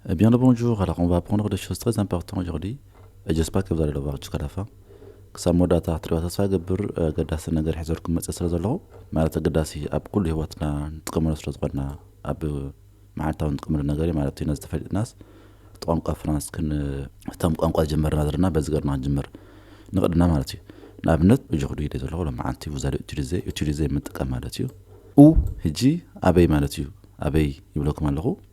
Eh bien le bonjour, alors on va apprendre des choses très importantes aujourd'hui et j'espère que vous allez le voir jusqu'à la fin. ክሳብ መወዳእታ ክትሪኦ ተስፋ ይገብር ኣገዳሲ ነገር ሒዘልኩም መፅእ ስለ ዘለኹ ማለት ኣገዳሲ ኣብ ኩሉ ሂወትና ንጥቀመሉ ስለ ዝኾንና ኣብ መዓልታዊ ንጥቀመሉ ነገር እዩ ማለት እዩ ነዚ ተፈሊጥናስ እቲ ቋንቋ ፍራንስ ክን እቶም ቋንቋ ዝጀመርና ዘለና በዚ ገርና ክንጅምር ንቕድና ማለት እዩ ንኣብነት እጆ ክዱ ኢለ ዘለኹ ሎ መዓልቲ ውዛደ ዩቲሊዘ ዩቲሊዘ ምጥቀም ማለት እዩ ኡ ህጂ ኣበይ ማለት እዩ ኣበይ ይብለኩም ኣለኹ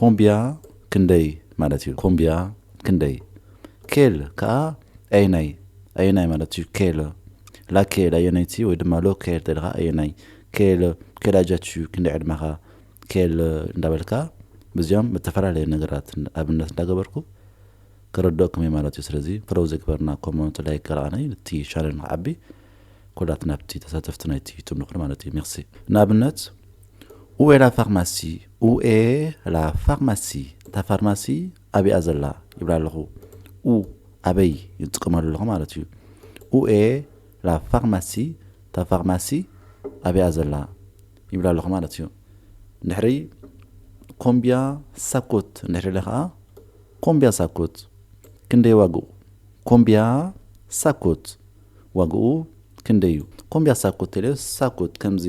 ኮምብያ ክንደይ ማለት እዩ? ኮምብያ ክንደይ? ኬል ከኣ ኣየናይ ኣየናይ ማለት እዩ? ኬል ላኬል ኣየነይቲ ወይ ድማ ሎኬል ተልኻ ኣየናይ ኬል ኬል ኣጃች እዩ ክንደይ ዕድመኻ ኬል እንዳበልካ ብዚኦም ብተፈላለየ ነገራት ኣብነት እንዳገበርኩ ከረድኦኩም እየ ማለት እዩ ስለዚ ፎሎው ዘይግበርና ኮሞንት ላይክ ገርኣኒ እቲ ቻነል ንክዓቢ ኮዳት ናብቲ ተሳተፍቲ ናይቲ ዩቱብ ንቕር ማለት እዩ ሜርሲ ንኣብነት ኡኤ ላ ፋርማሲ ኡኤ ላ ፋርማሲ እታ ፋርማሲ ኣብኣ ዘላ ይብላ ኣለኹ ኡ ኣበይ ይጥቀመሉ ኣለኹ ማለት እዩ ኡኤ ላ ፋርማሲ እታ ፋርማሲ ኣብኣ ዘላ ይብላ ኣለኹ ማለት እዩ ድሕሪ ኮምቢያ ሳኮት እንድሕሪ ኢለ ከዓ ኮምቢያ ሳኮት ክንደይ ዋግኡ ኮምቢያ ሳኮት ዋግኡ ክንደይ እዩ ኮምብያ ሳኩት ቴሌ ሳኩት ከምዚ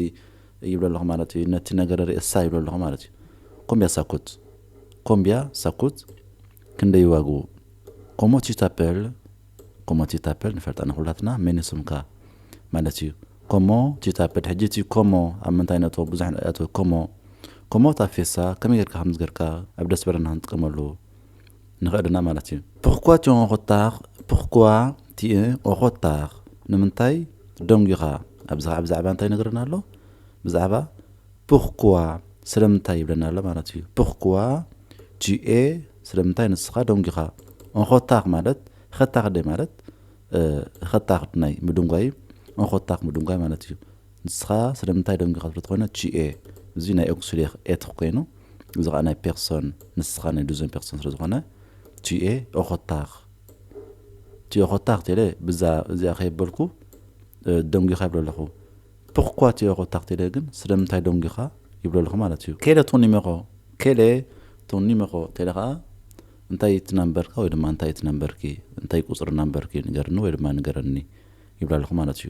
ይብሎ ኣለኹ ማለት እዩ ነቲ ነገረ ርእሳ ይብሎ ኣለኹ ማለት እዩ ኮምብያ ሳኩት ኮምብያ ሳኩት ክንደይ እዩ ዋግኡ ኮሞ ቲ ታፐል ኮሞ ቲ ታፐል ንፈልጣ ንኩላትና መን ስምካ ማለት እዩ ኮሞ ቲ ታፐል ሕጂ እቲ ኮሞ ኣብ ምንታይ ነቶ ብዙሕ ኣቶ ኮሞ ኮሞ ታፌሳ ከመይ ጌርካ ከምዝገርካ ኣብ ደስ በለና ክንጥቀመሉ ንኸእድና ማለት እዩ። ፕርኳ ቲን ኦኾታኽ ፕርኳ ቲን ኦኾታኽ ንምንታይ ደንጒኻ ኣብዚ ኸዓ ብዛዕባ እንታይ ይነግረና ኣሎ ብዛዕባ ፕርኳ ስለምንታይ ይብለና ኣሎ ማለት እዩ ፕርኳ ቲኤ ስለምንታይ ንስኻ ደንጒኻ ኦኾታኽ ማለት ኸታኽ ደ ማለት ኸታኽ ናይ ምድንጓይ እዩ ኦኾታኽ ምድንጓይ ማለት እዩ ንስኻ ስለምንታይ ዶንግ ኢኻ ስለተኾነ ቺኤ እዚ ናይ ኦክሱሌኽ ኤትኽ ኮይኑ እዚ ኸኣ ናይ ፔርሶን ንስኻ ናይ ዱዘን ፔርሶን ስለዝኾነ ቺኤ ኦኾታኽ ቺኤ ኦኾታኽ ቴለ ብዛ እዚኣ ከየበልኩ ዶንግ ኢኻ ይብሎ ኣለኹ ፕኽኳ ቺኤ ኦኾታኽ ቴለ ግን ስለምንታይ ዶንግ ኢኻ ይብሎ ኣለኹ ማለት እዩ ኬለ ቶን ይመኾ ኬለ ቶን ይመኾ ቴለ ኸኣ እንታይ እቲ ናምበርካ ወይ ድማ እንታይ እቲ ናምበርኪ እንታይ ቁፅሪ ናምበርኪ ንገርኒ ወይ ድማ ንገረኒ ይብሎ ኣለኹ ማለት እዩ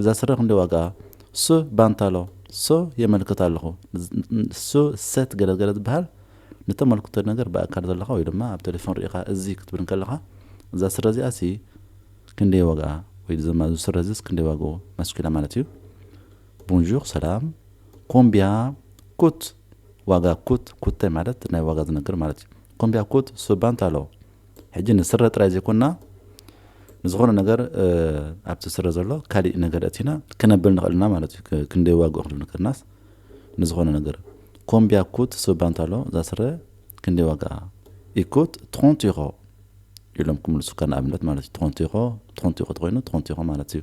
እዛ ስረ ክንደይ ዋጋኣ ስ ባንታሎ ስ የመልክት ኣለኹ ስ ሰት ገለ ገለ ዝበሃል ንተመልክቶ ነገር ብኣካል ዘለኻ ወይ ድማ ኣብ ቴሌፎን ርኢኻ እዚ ክትብል እንከለኻ እዛ ስረ እዚኣ ሲ ክንደይ ዋጋኣ ወይ ድማ እዚ ስረ እዚስ ክንደይ ዋግኡ ማስኪላ ማለት እዩ ቦንዡር ሰላም ኮምቢያ ኩት ዋጋ ኩት ኩተ ማለት ናይ ዋጋ ዝነግር ማለት እዩ ኮምቢያ ኩት ስ ባንታሎ ሕጂ ንስረ ጥራይ ዘይኮንና ንዝኾነ ነገር ኣብቲ ስረ ዘሎ ካሊእ ነገር እቲና ክነብል ንኽእል ኢና ማለት እዩ ክንደይ ዋግኡ ክንብል ንክርናስ ንዝኾነ ነገር ኮምቢያ ኩት ስባንት ኣሎ እዛ ስረ ክንደይ ዋግኣ ኢኩት ትኾንቱ ይኾ ኢሎም ክምልሱካ ንኣብነት ማለት እዩ ትኾንቱ ይኾ ትኾንቱ ይኾ ትኮይኑ ትኾንቱ ይኾ ማለት እዩ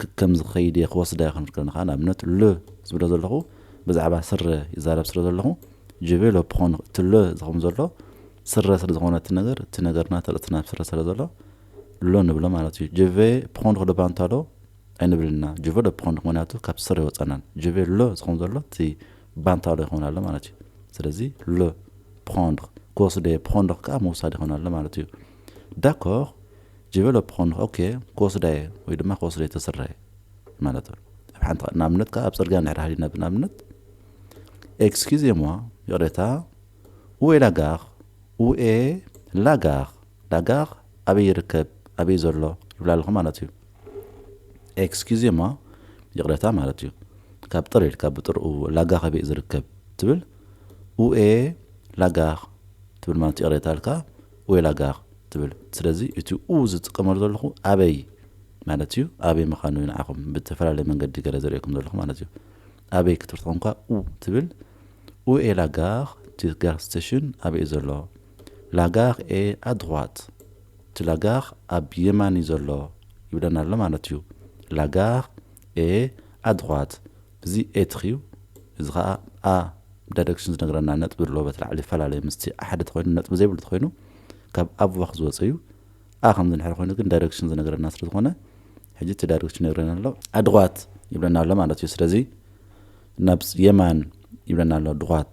ክከም ዝኸይድ እየ ክወስዳ እየ ክንብል ከለና ከኣ ንኣብነት le ዝብሎ ዘለኹ ብዛዕባ ስረ ይዛረብ ስለ ዘለኹ je vais le prendre እቲ le ዝኸውን ዘሎ ስረ ስለ ዝኾነ እቲ ነገር እቲ ነገርና ተርእትና ኣብ ስረ ስለ ዘሎ le ንብሎ ማለት እዩ je vais prendre le pantalon ኣይንብልን ኢና je veux le prendre ምክንያቱ ካብ ስረ ይወጻናን je vais le ዝኸውን ዘሎ እቲ ባንታሎ ይኸውን ኣሎ ማለት እዩ ስለዚ le prendre ክወስደ እየ prendre ከኣ ምውሳድ ይኸውን ኣሎ ማለት እዩ ዳኮር ዲቨሎፕ ክኾን ኦኬ ክወስዳ እየ ወይ ድማ ክወስደ ተስርሕ እየ ማለት ኣሎ ኣብ ሓንቲ ንኣብነት ከዓ ኣብ ፅርግያ ንድሕር ሃሊና ብንኣብነት ኤክስኪዝ የምዋ ይቕሬታ ኡኤ ላጋኽ ኡኤ ላጋኽ ላጋኽ ኣበይ ይርከብ ኣበይ ዘሎ ይብላ ኣለኹ ማለት እዩ ኤክስኪዝ የምዋ ይቕሬታ ማለት እዩ ካብ ጥር ኢልካ ብጥር ላጋኽ ኣበይ ዝርከብ ትብል ኡኤ ላጋኽ ትብል ማለት ይቕሬታ ኣልካ ወይላጋር ትብል ስለዚ እቲ ኡ ዝጥቀመሉ ዘለኹ ኣበይ ማለት እዩ ኣበይ ምኻኑ እዩ ንዓኹም ብዝተፈላለየ መንገዲ ገለ ዘርእየኩም ዘለኹ ማለት እዩ ኣበይ ክትብል ተኾንኳ ኡ ትብል ኡ ኤ ላጋር እቲ ጋር ስተሽን ኣበይ እዩ ዘሎ ላጋር ኤ ኣድሯት እቲ ላጋር ኣብ የማን እዩ ዘሎ ይብለና ኣሎ ማለት እዩ ላጋር ኤ ኣድሯት እዚ ኤትክ እዩ እዚ ከኣ a ዳይረክሽን ዝነግረና ነጥቢ ኣሎ በቲ ላዕሊ ይፈላለዩ ምስቲ a ሓደ ተኮይኑ ነጥቢ ዘይብሉ ተኮይኑ ካብ a ብባክ ዝወጸ እዩ a ከምዚ እንድሕር ኮይኑ ግን ዳይረክሽን ዝነግረና ስለ ዝኮነ ሕጂ እቲ ዳይረክሽን ይነግረና ኣሎ a ድኳት ይብለና ኣሎ ማለት እዩ ስለዚ ናብ የማን ይብለና ኣሎ ድኳት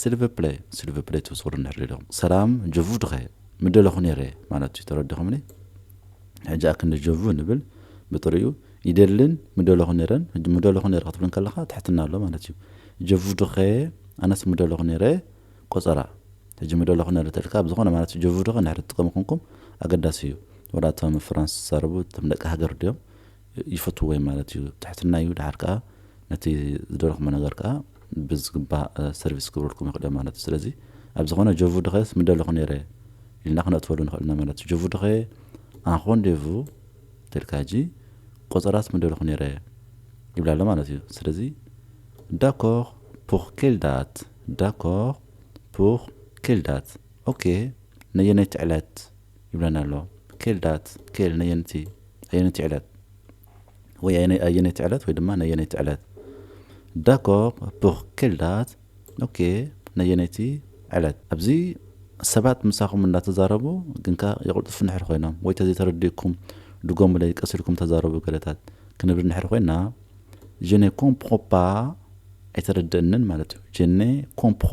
ስልቭፕለይ ስልቭፕለይ ትብጽሩ እንድሕር ኢሎም ሰላም ጀቡ ድኸ ምደለኹ ነይረ ማለት እዩ ተረድኹምኒ ሕጂ ኣክንዲ ጀቡ ንብል ብጥሪኡ ይደልን ምደለኹ ነይረን ሕጂ ምደለኹ ነይረ ክትብል ከለኻ ትሕትና ኣሎ ማለት እዩ ጀቡ ድኸ ኣነስ ምደለኹ ነይረ ቆጸራ ሕጂ ምደለኹ ነይረ ተልካ ብዝኾነ ማለት እዩ ጀቡ ድኸ እንድሕር ትጥቀሙ ኮንኩም ኣገዳሲ እዩ ወላ እቶም ፍራንስ ዝዛረቡ እቶም ደቂ ሃገር ድዮም ይፈትዎ እዮም ማለት እዩ። ትሕትና እዩ ደሓር ከኣ ነቲ ዝደለኹሞ ነገር ከኣ ብዝግባእ ሰርቪስ ክገብረልኩም ይኽእሉ እዮም ማለት እዩ። ስለዚ ኣብ ዝኾነ ጆቭ ድኸስ ምደለኹ ነይረ ኢልና ክነእትወሉ ንኽእል ኢና ማለት እዩ። ጆቭ ድኸ ኣንኾንዴቭ ተልካ ሕጂ ቆጸራስ ምደለኹ ነይረ ይብላ ኣሎ ማለት እዩ። ስለዚ ዳኮር ፑር ኬል ዳት ዳኮር ፑር ኬል ዳት ኦኬ ነየነይቲ ዕለት ይብለና ኣሎ ክል ዳት ክል ነየንቲ ኣየነይቲ ዕለት ወይ ኣየነይቲ ዕለት ወይ ድማ ነየነይቲ ዕለት ዳኮር ፑር ክል ዳት ኦኬ ነየነይቲ ዕለት ኣብዚ ሰባት ምሳኹም እንዳተዛረቡ ግንካ የቕልጡፍ ንሕር ኮይኖም ወይ ተዘይተረዲእኩም ድጎሙለይ ቀስ ኢልኩም ተዛረቡ ገለታት ክንብል ንሕር ኮይና ጀኔ ኮምፕሮ ፓ ኣይተረድእንን ማለት እዩ ጀኔ ኮምፕሮ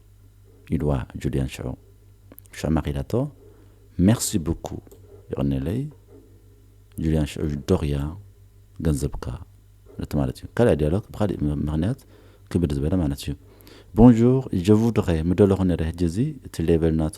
ኢልዋ ጁልያን ሽዑ ሽዑ ማክ ኢላቶ ሜርሲ ቡኩ የቀኔለይ ጁልያን ሽዑ ዶክያ ገንዘብካ ነቲ ማለት እዩ ካልኣ ዲያሎግ ብካሊእ ምክንያት ክብድ ዝበለ ማለት እዩ ቦንዡር ጀቡ ዶክየ ምደለኩ ነረ ህጂ እዚ እቲ ሌቨል ናቱ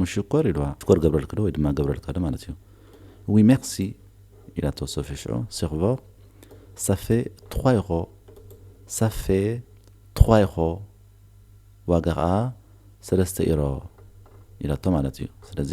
ሙሽኮር ኢልዋ ሽኮር ገብረልክዶ ወይ ድማ ገብረልካዶ ማለት እዩ ዊ ሜርሲ ኢላቶ ሶፊ ሽዑ ሴርቮር ሳፌ ትዃይኾ ሳፌ ትዃይኾ ዋጋ ኸኣ ሰለስተ ኢሮ ኢላቶ ማለት እዩ ስለዚ